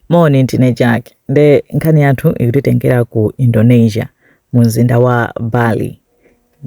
Moni, ndine Jack. Nde nkhani yathu ikutitengera ku Indonesia mu mzinda wa Bali.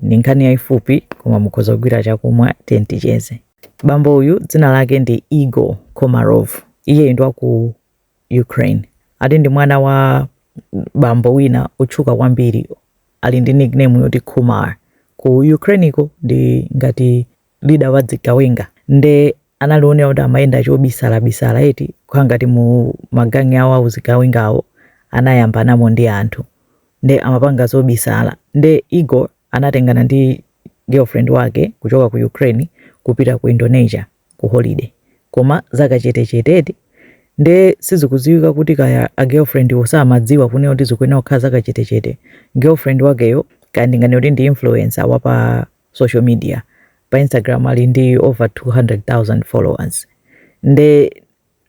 Ndi nkhani yaifupi koma mukhoza kugwira chakumwa tiyeni ticheze. Bambo uyu dzina lake ndi Igor Komarov. Iyeyu ndi wa ku Ukraine. Ati ndi mwana wa bambo wina otchuka kwambiri ali ndi nickname yoti Kumar. Ku Ukraineko ndi ngati leader wa zigawenga nde anali onena kuti amayenda chobisala bisala eti kukhala ngati mu magangi awo auzigawengawo anayambanamo ndi anthu nde amapanga zobisala nde Igor anatengana ndi girlfriend wake kuchoka ku Ukraine kupita ku Indonesia ku holiday koma zakachetechete eti nde sizikudziwika kuti kaya a girlfriend wo samadziwa kunena kuti zikuyenera kukhala zakachetechete girlfriend wakeyo kaya ndinganene kuti ndi influencer wapa social media pa instagram ali ndi over 200000 followers nde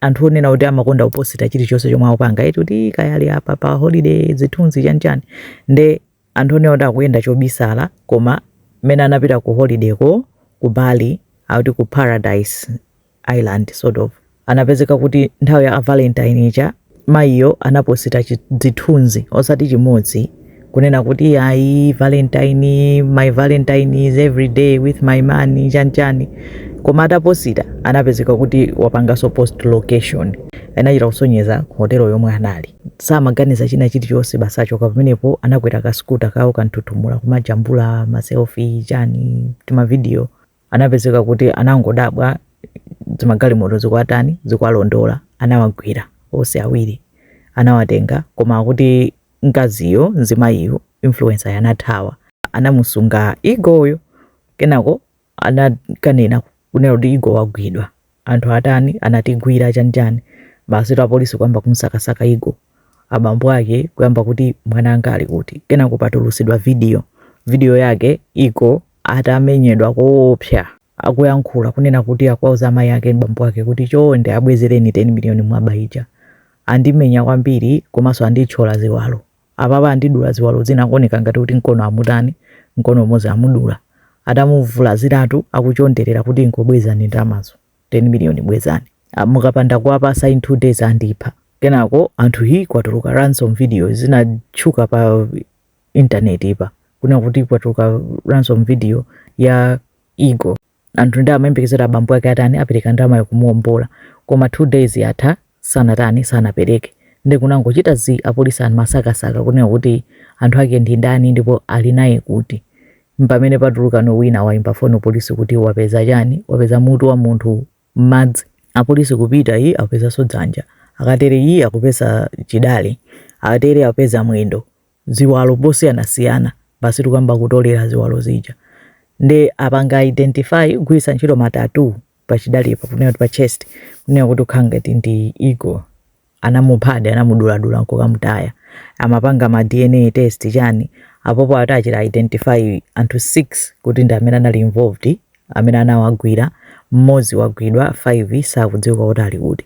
anthu onena kuti amakonda kuposita chilichonse chomwe akupanga eti kuti kaya ali apa pa holiday zithunzi chanichani nde anthu onena kuti akuyenda chobisala koma mmene anapita ku holidayko ku bali akuti ku paradise Island sort of. Anapezeka kuti nthawi ya a Valentine ija mayiyo anaposita chi- zithunzi osati chimodzi kunena kuti ayi Valentine, my Valentine is every day with my man chani chani koma ataposita anapezeka kuti wapanganso post location anachita kusonyeza hotelo yomwe anali samaganiza china chilichonse basi achoka pamenepo anakwera kaskuta kawo kanthuthumula kumajambula maselfi chani timavidiyo anapezeka kuti anangodabwa zimagalimoto zikwatani zikwalondola anawagwira onse awiri anawatenga koma akuti mkaziyo mzimayiyo influenceryo anathawa anamusunga Igoryo kenako anakanena kunena kuti Igor wagwidwa anthu atani anatigwira chani chani basitu apolisi kuyamba kumsakasaka Igor abambo ake kuyamba kuti mwana anga ali kuti kenako patulusidwa video video yake Igor atamenyedwa koopsa akuyankhula kunena kuti akwauza amayi ake ndi bambo ake kuti chonde abwezereni 10 miliyoni munaba ija andimenya kwambiri komanso andithyola ziwalo Apapa andidula ziwalo zina akuoneka ngati kuti mkono amutani, mkono umodzi amudula. Atamuvulaziratu akuchonderera kuti ingobwezani ndalamazo, 10 million bwezani. Mukapanda kuwapasa in 2 days andipha. Kenako anthu hii kwatuluka ransom video zinatchuka pa intaneti pa kunena kuti kwatuluka ransom video ya Igor. Anthu ndi amayembekezera abambo ake atani apereke ndalamayo kumuombola koma 2 days yatha sanatani sanapereke nde kunangochita zii apolisi anamusakasaka kunena kuti anthu ake ndi ndani ndipo alinaye kuti mpamene patuluka ano wina waimba foni kupolisi kuti wapeza chani wapeza mutu wa munthu mmadzi apolisi kupita iii akupezaso dzanja akatere iii akupeza chidale akatere akupeza mwendo ziwalo zosiyanasiyana basitu kuyamba kutolera ziwalo zija nde apanga identify kugwiritsa ntchito ma tattoo pachidalepo kunena kuti pa chest kunena kuti ikukhala ngati ndi Igor anamuphadi anamuduladula nkukamutaya apanga ma dna test chani apa apo ati achita identify anthu 6 kuti ndi amene anali involved amene anawagwira mmodzi wagwidwa 5 sakudziwika kuti ali kuti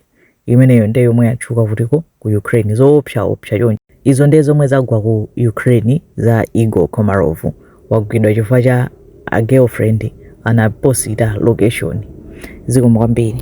imeneyo ndiye yomwe yatchuka kuti ku Ukraine zoopsa opsa chonchi izo ndiye zomwe zagwa ku Ukraine za Igor Komarov wagwidwa chifukwa cha a girlfriend anaposita location zikomo kwambiri